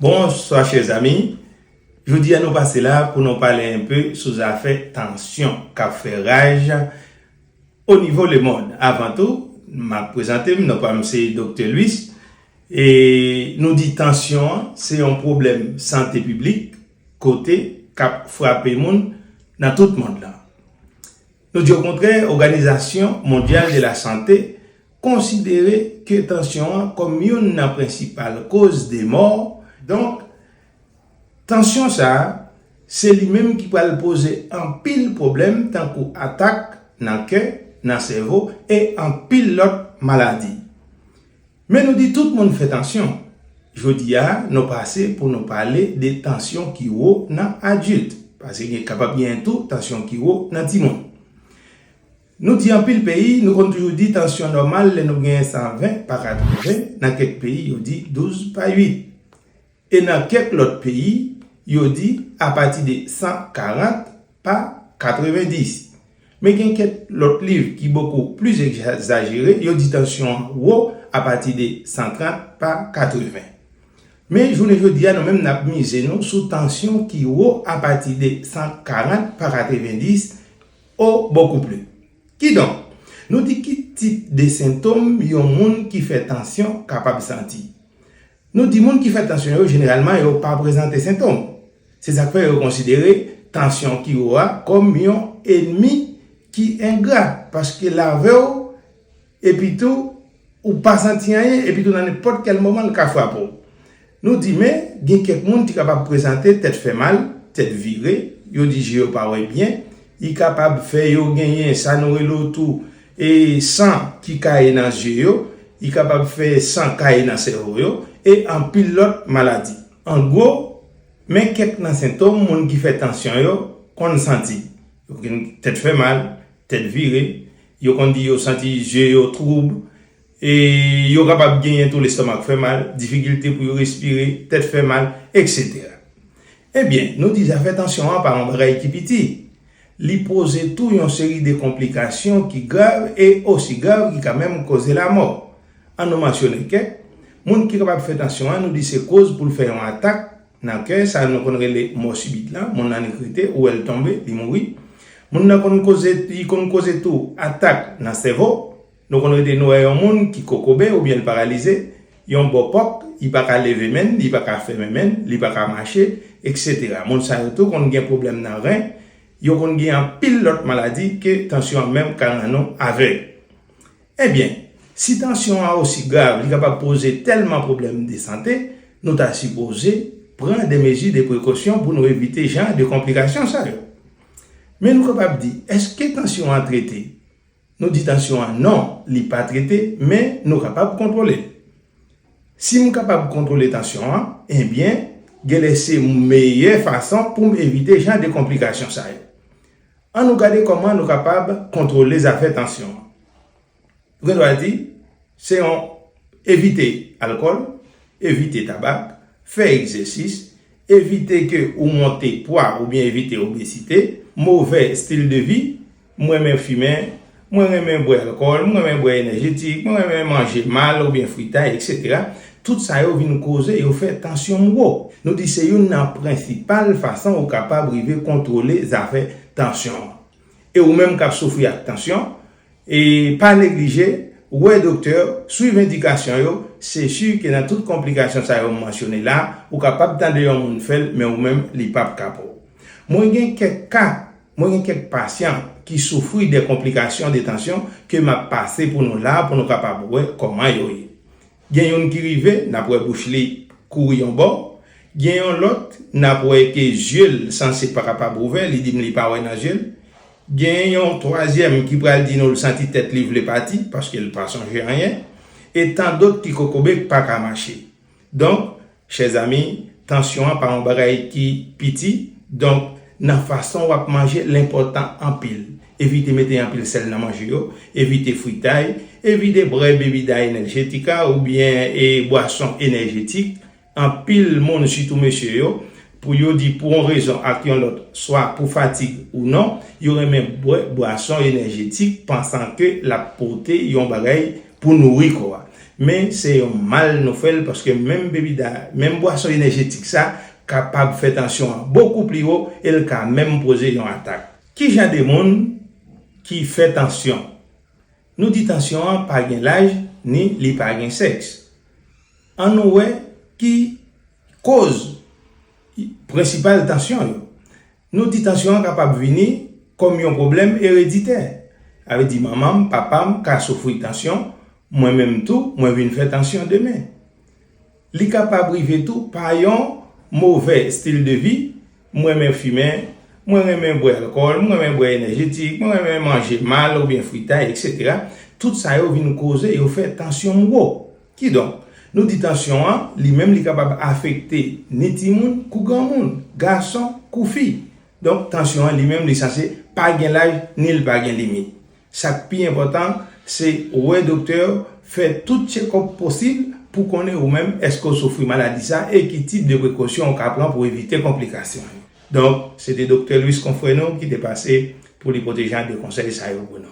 Bonswa chè zami, jodi a nou pase la pou nou pale enpe sou zafè tansyon kap fè raj o nivo le mond. Avan tou map prezante m, non pa m se Doktè Louis e nou di tansyon an se yon pwoblèm sante piblik kote kap frape moun nan tout mond lan. Nou di okontrè Oganizasyon Mondyal de la Sante Konsidere ke tansyon an kòm youn nan prensipal koz de mò, donk tansyon sa a se li menm ki pral poze anpil pwoblèm tankou atak nan kè, nan sèvo e anpil lòt maladi. Men nou di tout moun fè tansyon, jodi a nou pase pou nou pale de tansyon ki wo nan adilt, pase gen kapab genyen tou tansyon ki wo nan timoun. Nou di anpil peyi, nou konn toujou di tansyon nòmal lè nou gen 120 pa 80, nan kèk peyi yo di 12 pa 8. E nan kèk lòt peyi, yo di apati de 140 pa 90. Men gen kèk lòt liv ki bokou plis egzajere, yo di tansyon an wo apati de 130 pa 80. Men jounen jodi a nou menm n ap mize nou sou tansyon ki wo apati de 140 pa 90 O Beaucoup plus. Kidonk, nou di ki tip de sentom yon moun ki fè tansyon kapab santi. Nou di moun ki fè tansyon yo jeneralman yo pa prezante sentom. Se sa k fè yo konsidere tansyon ki wo a kòm yon enmi ki engra paske lavew Epi tou, ou pa santi anyen, epi tou nan nenpòt kèl moman l ka frape w. Nou di men, gen kèk moun ki kapab prezante tèt fè mal, tèt vire, yo di je yo pa wè byen, li kapab fè yo genyen sa nou rele w tou e san ki kaye nan zye yo, li kapab fè san kaye nan sèvo yo, e anpil lòt maladi. An gwo, men kèk nan sentom moun ki fè tansyon yo konn santi, yo konn gen tèt fè mal, tèt vire, Yo konn di yo santi je yo twoub, e yo kapab genyen tou lestomak fè mal, difikilte pou yo respire, tèt fè mal, eksetera. Ebyen, nou di zafè tansyon an pa yon bagay ki piti. Li poze tou yon seri de konplikasyon ki grav e osi grav ki ka menm koze lamò. An nou mansyone kèk, moun ki kapab fè tansyon an nou di se koz pou l fè yon atak, Nan kè, sa nou konn rele mò sibit la, moun nan li krite, ou wè l tonbe, li mouri. Moun nan konn koze, li konn koze tou atak nan sèvo. Nou konn rete nou wè yon moun ki kokobe oubyen l paralize, yon bò kòk, li pa ka leve men l, li pa ka fèmen men l, li pa ka mache, eksetera. Moun sa yo tou konn gen pwoblèm nan ren, yo konn gen anpil lòt maladi ke tansyon an menm ka rann ou avèg. Ebyen, si tansyon an osi grav li kapab poze tèlman pwoblèm de sante, nou ta sipoze pran de mezi de prekosyon pou nou evite jan de konplikasyon sa yo. Men nou kapab di, èske tansyon an trete? Nou di tansyon an non, li pa trete, men nou kapab kontwole l. Si m kapab kontwole tansyon an, ebyen, genlè se meyè fason pou m evite jan de konplikasyon sa yo. An nou gade kòman nou kapab kontwole zafè tansyon an. Nou gen dwa di, se yon evite alkòl, evite tabak, fè egzèsis, evite ke ou monte pwa oubyen evite obesite, movè stil de vi, m renmen fimen, Mwen renmen bwè alkòl, mwen renmen bwè enèjetik, mwen renmen manje mal oubyen fritay, eksetera, tout sa yo vin koze yo fè tansyon m wo. Nou di se youn nan prensipal fason ou kapab rive kontwole zafè tansyon an. E ou menm k ap soufri ak tansyon, pa neglije wè doktè, swiv endikasyon yo, se si ke nan tout konplikasyon sa yo m mansyone la, ou kapab tande yon moun fè l men ou menm li p ap ka pou ou. Mwen gen kèk ka Mwen gen kèk pasyan ki soufri de konplikasyon detansyon ke m ap pase pou nou la pou nou kapab wè kòman yo ye. Gen youn ki rive n ap wè bouch li kouri yon bò, gen yon lòt n ap wè ke zye l sanse pa kapab ouvè, li di m li pa wè nan zye l. Gen yon twazyèm ki pral di nou l santi tèt li vle pati paske l pa sonje anyen. E tandot ki kokobe k pa ka mache. Donk, chè zami, tansyon an pa yon bagay ki piti. Donk, nan fason w ap manje, l enpòtan anpil. Evite mete anpil sèl nan manje yo, evite fritay, evite bwè bebida enèjetika oubyen bwason enèjetik. Anpil moun, sitou mesye yo, Pou yo di pou yon rezon ak yon lòt, swa pou fatig ou non, yo renmen bwè bwason enèjetik pansan ke l ap pote yon bagay pou nouri kò a. Men se yon mal nou fè l paske menm bebida, menm bwason enèjetik sa kapab fè tansyon an bokou pli wo e l ka menm poze yon atak. Ki jan de moun ki fè tansyon? Nou di tansyon an pa gen laj ni li pa gen sèks. An nou wè ki. Koz prensipal tansyon yo. Nou di tansyon an kapab vini kòm yon pwoblèm ereditè. Sa vle di manman m, papa m ka soufri tansyon, mwen menm tou mwen vin fè tansyon demen. Li kapab rive tou pa yon movè stil de vi, m renmen fimen, mwen renmen bwè alkòl, m renmen bwè enèjetik, mwen renmen manje mal oubyen fritay eksetera, tout sa yo vin koze yo fè tansyon m wo. Kidonk, nou di tansyon an, li menm li kapab afekte ni timoun kou granmoun, gason kou fi. Donk, tansyon an li menm li sanse pa gen laj ni l pa gen limit. Sa k pi enpòtan, se wè doktè w, fè tout tchekòp posib pou konnen ou menm èske w soufri maladi sa e ki tip de prekosyon ou ka pran pou evite konplikasyon yo. Donk, se te Doktè Louis, konfrè nou, ki te pase pou li pote jan de konsèy sa yo pou nou.